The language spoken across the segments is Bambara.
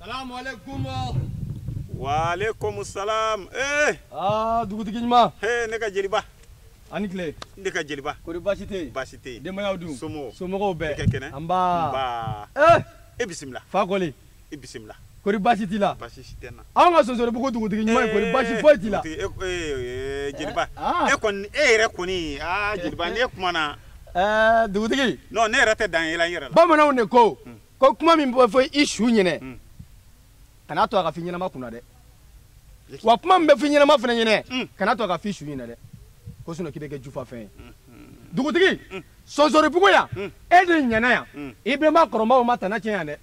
salamu aleykum waaleykum salam ee eh! aa ah, dugutigi ɲuman ee eh, ne ka jeliba a ni tile ne ka jeliba kori baasi tɛ yen baasi tɛ yen denbayaw dun somɔgɔw somɔgɔw bɛɛ i ka kɛnɛ nba nba ee e bisimila fakɔli i bisimila kori baasi t'i la baasi si tɛ n na anw ka sonsoribugu dugutigi ɲuman ye kori baasi foyi t'i la jeliba e kɔni e yɛrɛ kɔni aa jeliba n'e kumana ɛɛ dugutigi. non ne yɛrɛ tɛ dan yɛlɛ n yɛrɛ la. bamananw de ko hmm. ko kuma min bɛ fɔ i su ɲinɛ hmm. kana to a ka f'i ɲɛnama kunna dɛ wa kuma min bɛ f'i ɲɛnama fana ɲinɛ hmm. kana to a ka f'i su ɲinɛ dɛ ko sinɔn k'i bɛ kɛ jufa fɛn ye dugutigi sonsoribugu yan e de ɲɛna yan i bɛnba kɔrɔbaw ma tana tiɲɛ yan dɛ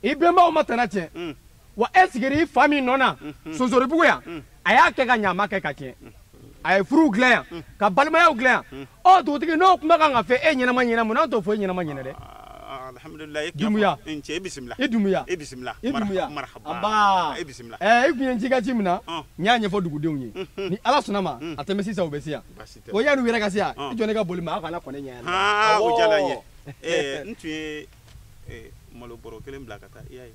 i bɛnbaw ma tana tiɲɛ. wa e sigira i fa min nɔ na mhm. sonsoribugu yan mhm. a y'a kɛ ka ɲɛ a ma kɛ ka tiɲɛ mhm. a ye furuw dilan yan ka balimayaw dilan yan ɔ dugutigi n'o kuma kan ka fɔ e ɲɛnama ɲɛna mun n'an t'o fɔ e ɲɛnama ɲɛna dɛ alhamdulilah e dumuya n cɛ e bisimila e dumuya e bisimila e dumuya marhaba e bisimila ɛ e kun ye ci ka ci min na n y'a ɲɛfɔ dugudenw ye ni ala sɔnna ma a tɛ mɛɛn sisan u bɛ se yan o yan'u yɛrɛ ka se yan i jɔ ne ka boli ma aw kana kɔn ne ɲɛ yan o diyara n ye n tun ye malo bɔrɔ kelen bila ka taa i y'a ye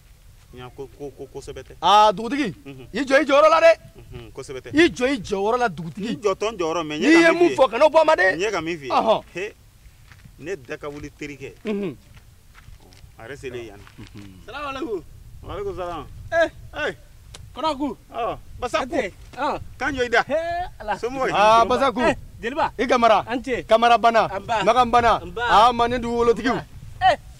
aa dugutigi i jɔ i jɔyɔrɔ la dɛ i jɔ i jɔyɔrɔ la dugutigi n'i ye mun fɔ kana o bɔ a ma dɛ ne da ka wuli terikɛ a yɛrɛ selen yan salamaleykum waaleykum salam ee ee kɔnɔku basaku kan jɔ i da somɔgɔ aa basaku jeliba i kamara an ce kamara bana makan bana aa manden dugukolotigiw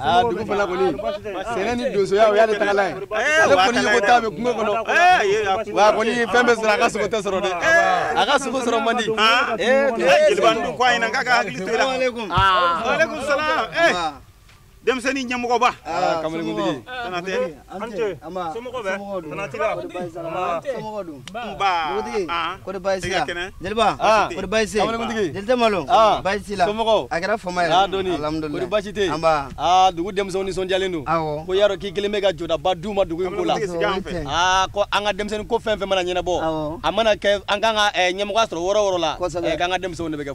Ah, dugu fana kɔni sɛnɛ ni donsoya o y'ale tagala ye eh, ale kɔni ɲɔgɔn ta bɛ kungo kɔnɔ eh, wa kɔni fɛn bɛ sɔrɔ a ka sogo tɛ sɔrɔ dɛ eh. a ka sogo sɔrɔ man di ah. jeliba n dun ko a ɲɛna k'a k'a hakili to i la waaleykum ah. salam denmisɛnnin ɲɛmɔgɔba kamalenkuntigi an ce somɔgɔ bɛ konatɛ la somɔgɔ dun dugutigi kɔri baasi la jeliba kɔri baasi jeli tɛ malo baasi la somɔgɔ a kɛra fama ye alhamdulilayi kɔri baasi tɛ yen dugu denmisɛnw nisɔndiyalen don ko y'a dɔn k'i kɛlen bɛ ka jɔdaba d'u ma dugu in ko la ko an ka denmisɛnnin ko fɛn fɛn mana ɲɛnabɔ a mana kɛ an kan ka ɲɛmɔgɔya sɔrɔ yɔrɔ o yɔrɔ la k'an ka denmisɛnw de bɛ kɛ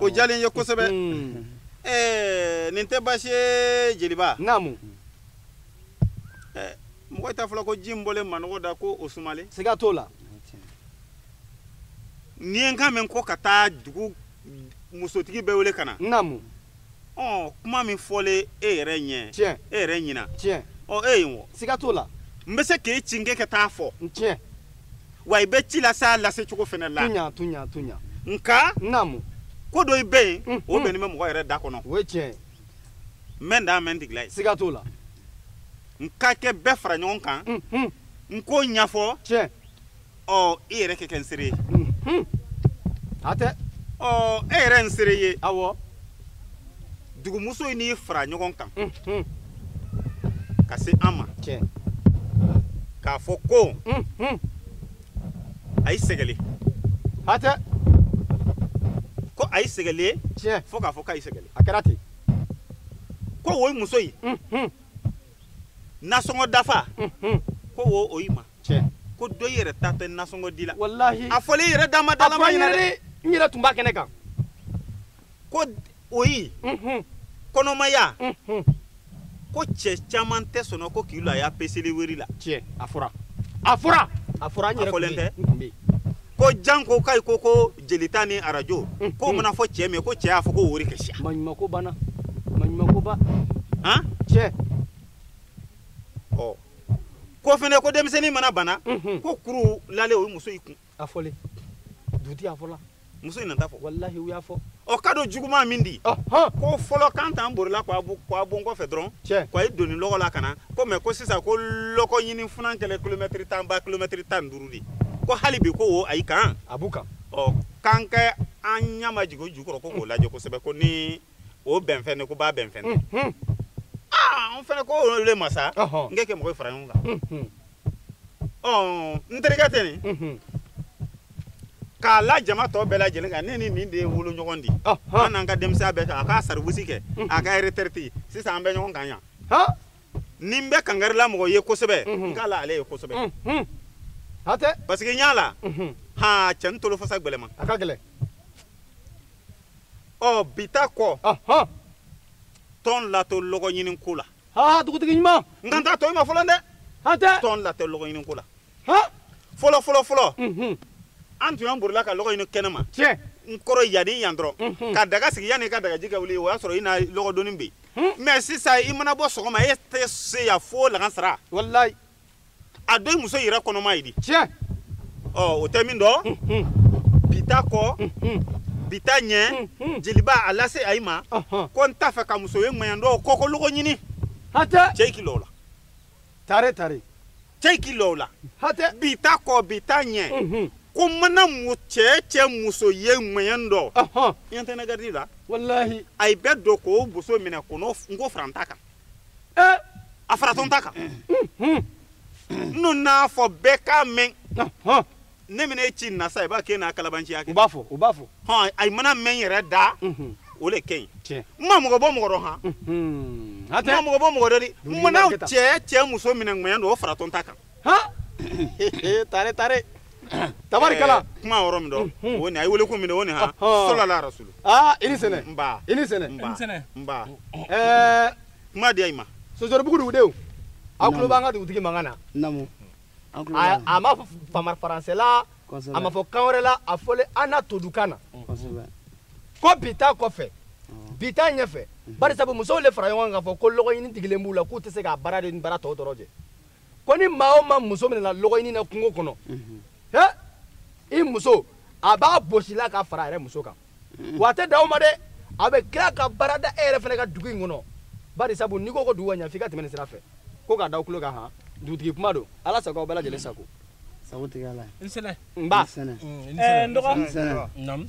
o diyalen n ye kosɛbɛ eh, nin tɛ baasi ye jeliba naamu eh, mɔgɔ t'a fɔla ko ji in bɔlen manɔgɔ da ko o sumalen siga t'o la n'i ye n kan mɛn ko ka taa dugu musotigi bɛɛ wele ka na naamu ɔ kuma min fɔlen e yɛrɛ ɲɛ tiɲɛ e yɛrɛ ɲina tiɲɛ ɔ e ye n wɔ siga t'o la n bɛ se k'e ci n k'e ka taa fɔ tiɲɛ wa i bɛ ci la sa lase cogo fɛnɛ la tunya tunya tunya nka naamu ko dɔyi bɛ yen mm, o mm. bɛnnen bɛ mɔgɔ yɛrɛ da kɔnɔ o ye tiɲɛ ye n bɛ n da mɛ n tigila ye siga t'o la n ka kɛ bɛɛ fara ɲɔgɔn kan mm, n k'o ɲɛfɔ tiɲɛ ɔ i yɛrɛ kɛ kɛ n seere ye hatɛ ɔ e yɛrɛ n seere ye awɔ dugumusoyi n'i fara ɲɔgɔn kan ka se an ma k'a fɔ ko ayi sɛgɛlen hatɛ ko ayi sɛgɛlen tiɲɛ fo k'a fɔ k'ayi sɛgɛlen a kɛra ten ko oyi musoyi nasɔngɔ dafa ko o oyi ma tiɲɛ ko dɔyi yɛrɛ ta tɛ nasɔngɔ di la walahi a fɔlen i yɛrɛ dama dalama ɲɛna dɛ n yɛrɛ tun b'a kɛnɛ kan ko oyi kɔnɔmaya ko cɛ caman tɛ sɔnna ko k'i lɔ a ya peseli weri la tiɲɛ a fɔra a fɔra a fɔra an yɛrɛ fɔlen tɛ ko janko k'ayi ko ko jelita ni arajo k'o mana fɔ cɛ min ko cɛ y'a fɔ ko wori ka siya maɲumako banna maɲumako ba han tiɲɛ ɔ ko fɛnɛ ko denmisɛnnin mana bana ko kuru lalen oyi musoyi kun a fɔlen dugutigi a fɔla musoyi nat'a fɔ walahi u y'a fɔ ɔ ka don juguman min di ko fɔlɔ k'an t'an borila k'a bon kɔfɛ dɔrɔn k'a ye doni lɔgɔ la ka na ko mɛ ko sisan ko lɔgɔ ɲini funan kɛlen kilomɛtiri tan ba kilomɛtiri tan ni duuru di ko hali bi ko o ayi kan a b'u kan ɔ k'an kɛ an ɲɛmajigin o ju kɔrɔ ko k'o lajɛ kosɛbɛ ko ni o bɛnfɛn de ko b'a bɛnfɛn de mhm. ah, n fɛnɛ ko o le ma sa n kɛ kɛ mɔgɔ fara ɲɔgɔn kan mhm. ɔ n terikɛ tɛ nin mhm. k'a la jama tɔ bɛɛ lajɛlen kan ne ni nin de ye wolo ɲɔgɔn di an n'an ka denmisɛnya bɛɛ kɛ a k'a service kɛ a ka retraite sisan an bɛ ɲɔgɔn kan yan ni n bɛ kangarila mɔgɔ ye kosɛbɛ n k'a la ale ye kosɛbɛ hatɛ parce que n y'a la han cɛnin tolofasa gbɛlɛma a ka gɛlɛn ɔ bi ta kɔ tɔn latɔ lɔgɔ ɲini ko la ha dugutigi ɲuman n kan t'a tɔyi ma fɔlɔ dɛ hatɛ tɔn latɔ lɔgɔ ɲini ko la ha fɔlɔ fɔlɔ fɔlɔ mhm. an tun y'an borila ka lɔgɔ ɲini kɛnɛ ma tiɲɛ n kɔrɔ yani yan dɔrɔn mhm. ka daga sigi yanni ka dagaji kɛ wuli o y'a sɔrɔ i na lɔgɔ doni bɛ yen mɛ sisan i mana bɔ sɔgɔma e tɛ se yan fo lagansara walayi a dɔyi muso yɛrɛ kɔnɔmayi di tiɲɛ ɔ o tɛ min dɔn bi ta kɔ bi ta ɲɛ jeliba a lase ayi ma ko n t'a fɛ ka muso ye ŋɛɲɛ dɔ kɔkɔ lɔgɔ ɲini hatɛ cɛ i k'i lɔ o la tare tare cɛ i k'i lɔ o la hatɛ bi ta kɔ bi ta ɲɛ ko mana mu cɛ cɛ muso ye ŋɛɲɛ dɔ i ɲɛ tɛ ne garidi la walahi ayi bɛɛ don k'o muso minɛ k'o n'o n ko faranta kan eh. a faratɔ n ta kan eh. n'o n'a fɔ bɛɛ k'a mɛn ne bɛna e ci nasa i b'a kɛ n'a kalabanciya kɛ u b'a fɔ hɔn a mana mɛn yɛrɛ da o le ka ɲi n ma mɔgɔ bɔ mɔgɔ dɔ han n ma mɔgɔ bɔ mɔgɔ dɔ de mana cɛ cɛ muso minɛ ŋɛɲɛ don o faratɔ n ta kan tare tare tabarikala eh, kuma yɔrɔ min dɔn hmm. o ni a ye wele ko min dɔn o ni ha sɔlɔla rasulu aa i ni sɛnɛ nba i ni sɛnɛ nba nba ɛɛ kuma diya i ma sosoribugu dugudenw aw tulo b'an ka dugutigi mankan na namu a ma fɔ faransɛ la a ma fɔ kan wɛrɛ la a fɔlen an na todunkan na ko bi ta kɔfɛ bi ta ɲɛfɛ bari sabu musow le fara ɲɔgɔn kan k'a fɔ ko lɔgɔɲini digilen b'u la k'u tɛ se k'a baara de ni baara tɔw dɔrɔn jɛ ko ni maa o maa muso minɛna lɔgɔɲini na kungo kɔnɔ he i muso a b'a bɔsi i la k'a fara a yɛrɛ muso kan wa a tɛ dan o ma dɛ a bɛ tila ka baara da e yɛrɛ fana kan dugu in kɔnɔ bari sabu n'i ko ko dugu ka ɲa f'i ka tɛmɛ nin sira fɛ ko k'a da aw tulo kan han dugutigi kuma don ala sago aw bɛɛ lajɛlen sago sagotigi ye ala ye n sɛnɛ n ba n sɛnɛ n dɔgɔ n sɛnɛ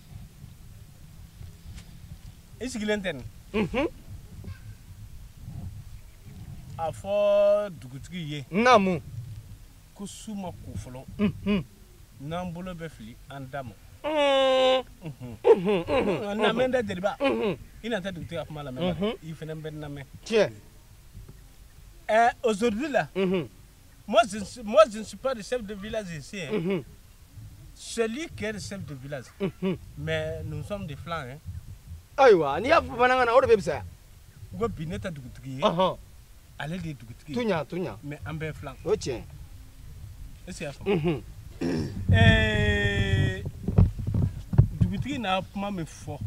i sigilen tɛ nin mhm. a fɔ dugutigi ye naamu ko su ma ko fɔlɔ mhm. n'an bolo bɛ fili an da ma mhm. lamɛn dɛ jeliba i na tɛ dugutigi ka kuma lamɛn i fana bɛ lamɛn tiɲɛ ɛ aujourd'hui là Moi, je ne suis pas le chef de village ici. Hein. Mhm. C'est lui qui est le chef de village. Mhm. Mais nous sommes des filan. Hein. ayiwa n'i y'a fɔ bamanankan na o de bɛ fisaya n ko bi ne tɛ dugutigi ye ale de ye dugutigi ye tuɲa tuɲa mais an bɛɛ filan o tiɲɛ est-ce que i y'a faamu dugutigi na kuma min fɔ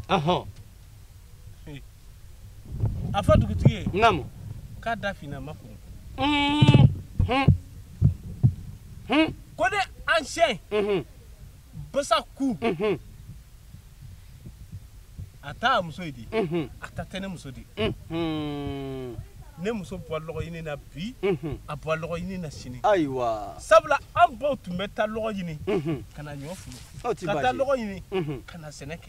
a fɔ dugutigi ye naamu k'a da finna makun ko ne ancien basaku a t'a muso ye di a ta tɛ ne muso di ne muso bɛ wa lɔgɔ ɲini na bi a bɛ wa lɔgɔ ɲini na sini ayiwa sabula an baw tun bɛ taa lɔgɔ ɲini ka na ɲɔ furu ka taa lɔgɔ ɲini ka na sɛnɛ kɛ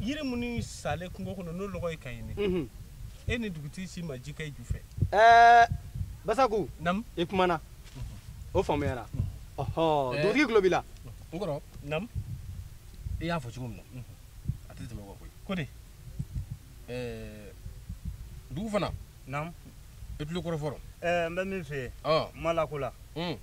yiri minnu salen kungo kɔnɔ n'o lɔgɔ ye k'a ɲini mhm. e ni dugutigi si ma ji k'a ju fɛ ɛɛ basaku nam i kumana o faamuyara mhm. ɔhɔ dugutigi tulo b'i la n kɔrɔ nam i y'a fɔ cogo min na mhm. a tɛ tɛmɛ o kan koyi ko de ɛɛ dugu fana naamu i tulo kɔrɔ fɔlɔ ɛɛ eh, n bɛ min f'i ye ah. ma la ko la ɛɛ hmm.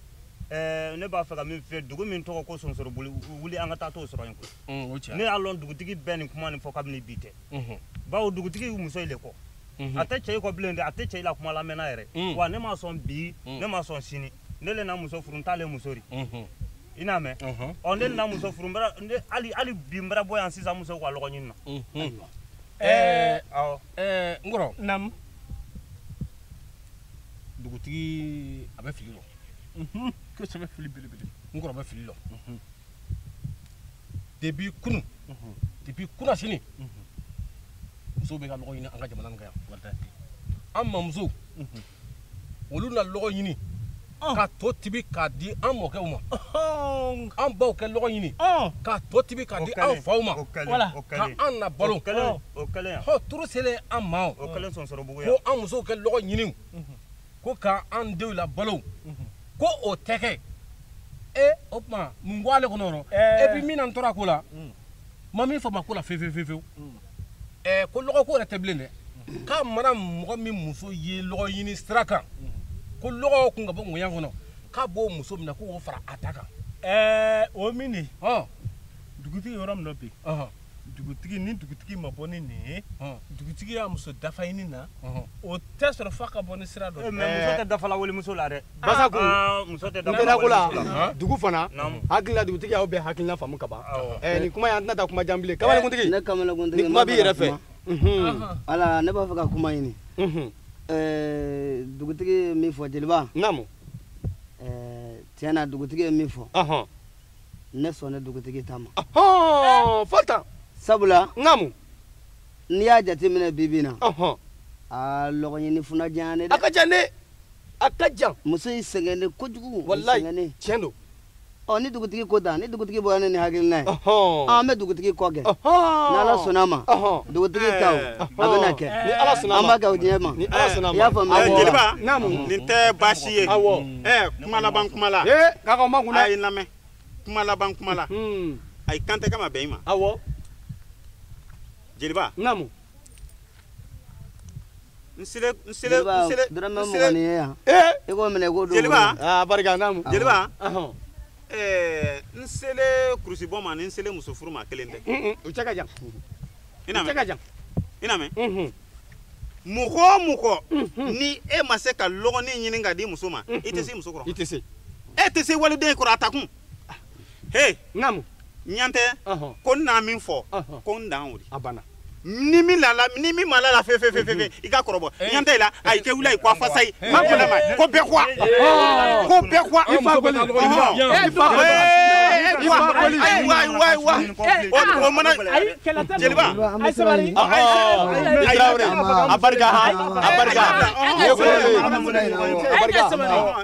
eh, ne b'a fɛ ka min f'i ye dugu min tɔgɔ ko sonsorobugu wuli an ka taa t'o sɔrɔ yen koyi hmm, o tiɲɛ ne y'a lɔn dugutigi bɛ nin kuma nin fɔ kabini bi tɛ hmm. bawo dugutigi ye muso i le kɔ a tɛ cɛ i kɔ bilen dɛ a tɛ cɛ i la kuma lamɛn na yɛrɛ wa ne ma sɔn bi ne ma sɔn sini ne le na muso furu n ta le muso di i n'a mɛn ɔ ne le na muso furu hali bi n bara bɔ yan sisan muso ka lɔgɔ ɲini na ɛɛ awɔ ɛɛ n kɔrɔ naamu dugutigi a bɛ fili lɔ kosɛbɛ fili belebele n kɔrɔ bɛ fili lɔ depuis kunu depuis kunasini musow bɛ ka lɔgɔ ɲini an ka jamana nin kan yan an mamuso olu na lɔgɔ ɲini ka to tibi k'a di an mɔkɛw ma an baw kɛ lɔgɔ ɲini ka to tibi k'a di an faw ma ka an na balo hɔ tour selen an ma ko an musow kɛ lɔgɔ ɲini ko ka an denw labalo ko o tɛ kɛ e o tuma mun b'ale kɔnɔ et puis min na n tɔɔrɔ ko la ma min faamu ko la fewu fewu eh ko lɔgɔ ko yɛrɛ tɛ bilen dɛ k'a mana mɔgɔ min muso ye lɔgɔ ɲini sira kan ko lɔgɔ kun ka bɔ ngoyan kɔnɔ k'a b'o muso mina k'o fara a ta kan eh o mini ha dugutigi yɔrɔ min dɔ bi dugutigi ni dugutigi ma bɔ ni nin ye dugutigi y'a muso dafa ɲini na o tɛ sɔrɔ f'a ka bɔ ni sira dɔ mais muso tɛ dafa la walimuso la dɛ basaku muso tɛ dafa la kola dugu fana hakilila dugutigi y'aw bɛɛ hakilina faamu ka ban ɛɛ nin kuma in an tɛna taa kuma jan bilen kamalenkuntigi ne kamalenkuntigi ni kuma b'i yɛrɛ fɛ ala ne b'a fɛ ka kuma ɲini ɛɛ dugutigi ye min fɔ jeliba naamu ɛɛ tiɲɛ na dugutigi ye min fɔ ne sɔnna dugutigi ta ma fo tan sabula naamu n'i y'a jateminɛ bi bi in na aa lɔgɔɲini funa diya ne dɛ a ka jan dɛ a ka jan muso in sɛgɛnnen kojugu walayi tiɲɛ don ɔ ni dugutigi ko tan ni dugutigi bɔra ni nin hakilina ye an bɛ dugutigi kɔ kɛ ni ala sɔnna a ma dugutigi ta o a bɛna kɛ an b'a kɛ o de ɲɛ ma i y'a faamu jeliba nin tɛ baasi ye ɛɛ n ma laban kuma la k'aw makun dɛ a ye n lamɛn n ma laban kuma la a ye kan tɛ kama bɛn i ma awɔ jeliba naamu jeliba dɔrɔmɛ mugan nin ye yan ee i k'o minɛ i k'o don jeliba aa barika naamu jeliba Ahɔn. ɛɛ n selen kurusibɔ ma ni n selen muso furu ma kelen tɛ Mm-mm, u cɛ ka jan i n'a mɛn Mhm. mɔgɔ o mɔgɔ ni e ma se ka lɔgɔnin ɲini k'a di muso ma i tɛ se muso kɔrɔ i tɛ se e tɛ se waliden kɔrɔ a ta kun he naamu ɲantɛ ko n na min fɔ ko n dan o de a banna ni min lala ni min ma lala fe fe fe fe i ka kɔrɔbɔ ɲantɛ la a i tɛ wuli a ye ko a fasa ye ma ko lama ko bɛɛ kuwa ko bɛɛ kuwa i fa boli i fa boli o mana jeliba a barika a barika a barika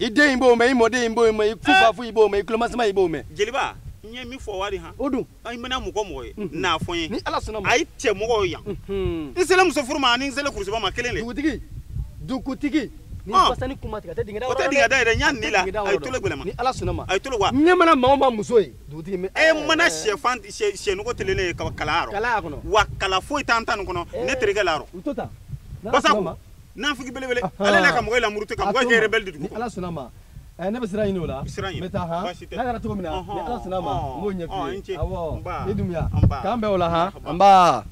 i den in b'o mɛn i mɔden in b'o mɛn i kufafu i b'o mɛn i kulomasima i b'o mɛn jeliba n ye min fɔ wari han o dun i mana mɔgɔ o mɔgɔ ye n'a fɔ n ye ni ala sɔnna a ye cɛ mɔgɔw yan n selen muso furu ma ani n selen kurusiba ma kelen de dugutigi dugutigi ni fasani kuma tigɛ tɛ dingɛ da o tɛ dingɛ da yɛrɛ n y'a ni la a ye tolo gɛlɛma ni ala sɔnna ma a ye tolo wa ne mana maa o maa muso ye dugutigi mɛ e mana sɛfan sɛnugu telelen ye kala yɔrɔ kala y'a kɔnɔ wa kala foyi t'an ta nin kɔnɔ ne terikɛ la yɔrɔ basa nafigi belebele ale la ka mɔgɔ lamuruti ka mɔgɔ kɛ rebelle dugu ala sɔnna ma ne bɛ siran ɲini o la siran ɲini n bɛ taa han n'a kɛra cogo min na ni ala sɔnna ma n b'o ɲɛf'i ye awɔ i Dunbiya k'an bɛn o la han n ba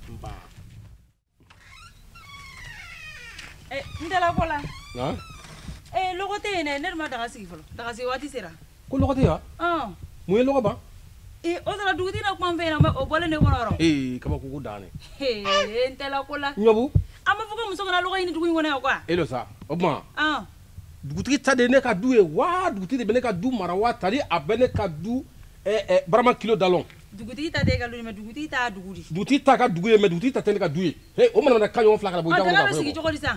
n dalabɔ la ee lɔgɔ tɛ yen dɛ ne dun ma daga sigi fɔlɔ daga sigi waati sera ko lɔgɔ tɛ yan wa mun ye lɔgɔ ban o sɔrɔ dugutigi dɔ kuma n fɛ yen nɔ o bɔlen ne kɔnɔ yɔrɔ ee kabako ko dan dɛ n tɛla ko la ɲɔbu an b'a fɔ ko muso kana lɔgɔ ɲini dugu in kɔnɔ yan quoi e lo sa o tuma dugutigi ta de ne ka du ye wa dugutigi de bɛ ne ka du mara wa tari a bɛ ne ka du barama kilo da lɔn dugutigi ta tɛ e ka du ye mɛ dugutigi ta dugu di dugutigi ta ka dugu ye mɛ dugutigi ta tɛ ne ka du ye o mana ka ɲɔgɔn fila ka bɔ ɲɔgɔn kan sigi cogo di sa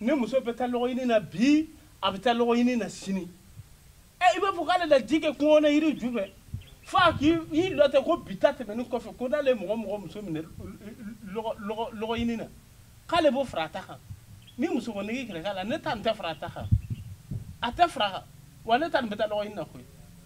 ne muso bɛ taa lɔgɔɲini na bi a bɛ taa lɔgɔɲini na sini ɛ i b'a fɔ k'ale daji kɛ kungo na yiri ju fɛ fo a k'i lɔ tɛ ko bi ta tɛmɛnen kɔfɛ ko n'ale ye mɔgɔ o mɔgɔ muso minɛ lɔgɔɲini na k'ale b'o fara a ta kan ni muso ko nege kɛlɛ k'a la ne ta nin tɛ fara a ta kan a tɛ fara a kan wa ne ta nin bɛ taa lɔgɔɲini na koyi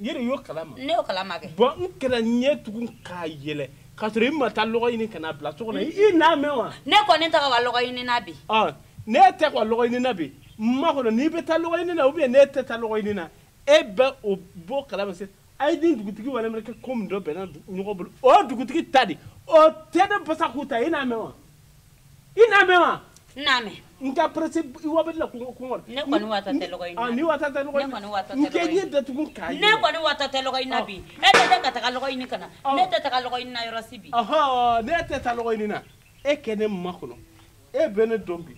yɛrɛ y'o kalama ne y'o kalama kɛ bon n kana ɲɛ tugun k'a yɛlɛ k'a sɔrɔ i ma taa lɔgɔ ɲini ka n'a bila so kɔnɔ i n'a mɛn wa ne kɔni tɛ ka wa lɔgɔ ɲini na bi ne tɛ ka lɔgɔ ɲini na bi n makɔnɔ n'i bɛ taa lɔgɔ ɲini na ou bien ne tɛ taa lɔgɔ ɲini na e bɛ o bɔ kalama se a ye ni dugutigi wale minɛ kɛ ko min dɔ bɛnna ɲɔgɔn bolo o dugutigi ta di o tɛ ne basa ku ta i n'a mɛn wa i n'a mɛn wa n n'a mɛn n ka presse i wa bɛdi la kungo kungo ne kɔni watɔ tɛ lɔgɔ ɲini na ne watɔ tɛ lɔgɔ ɲini na ne kɔni watɔ tɛ lɔgɔ ɲini na n kɛ ɲɛ datugu k'a ye ne kɔni watɔ tɛ lɔgɔ ɲini na bi e tɛ ka taga lɔgɔ ɲini ka na ne tɛ taga lɔgɔ ɲini na yɔrɔ si bi ɔhɔn ne tɛ taa lɔgɔ ɲini na e ka ne makɔnɔ e bɛ ne dɔn bi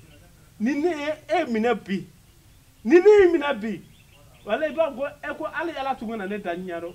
ni ne ye e minɛ bi ni ne y'i minɛ bi walayi i b'a fɔ ko e ko hali ala tun kana ne da ɲɛ dɔn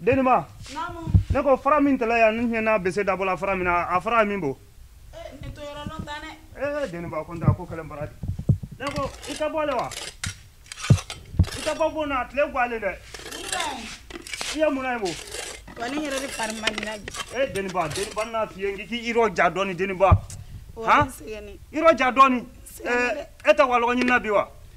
deniba ne ko fara min tɛrɛ yan ne ye n na bese dabɔ la fara min na a fara min bo ee deniba ko n ko kɛlɛ bara de ne ko i tɛ bɔ le wa i tɛ bɔ bon na tile guwalen dɛ i ye mun na ye bo wani yɛrɛ de fari man di bi ee deniba deniba n'a f'i ye n k'i yɔrɔ ja dɔɔni deniba han yɔrɔ ja dɔɔni ee e tɛ wa lɔgɔ ɲinina bi wa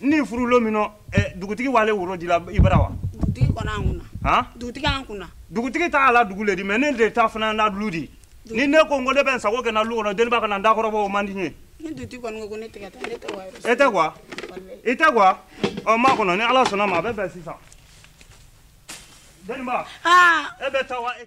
ni furu lo min nɔ dugutigi wale woro dila i bara wa dugutigi kɔni an kunna han dugutigi an kunna dugutigi ta a la dugu le di mais ne de ta fana n na lu di ni ne ko n ko ne bɛ n sago kɛ n na lu kɔnɔ deniba kana n dakɔrɔbɔ o man di n ye ni dugutigi kɔni ko ko ne tɛ ka taa ne tɛ wa e tɛ quoi i tɛ quoi ɔ makɔnɔ ni ala sɔnna ma a bɛ bɛn sisan deniba e bɛ taa wa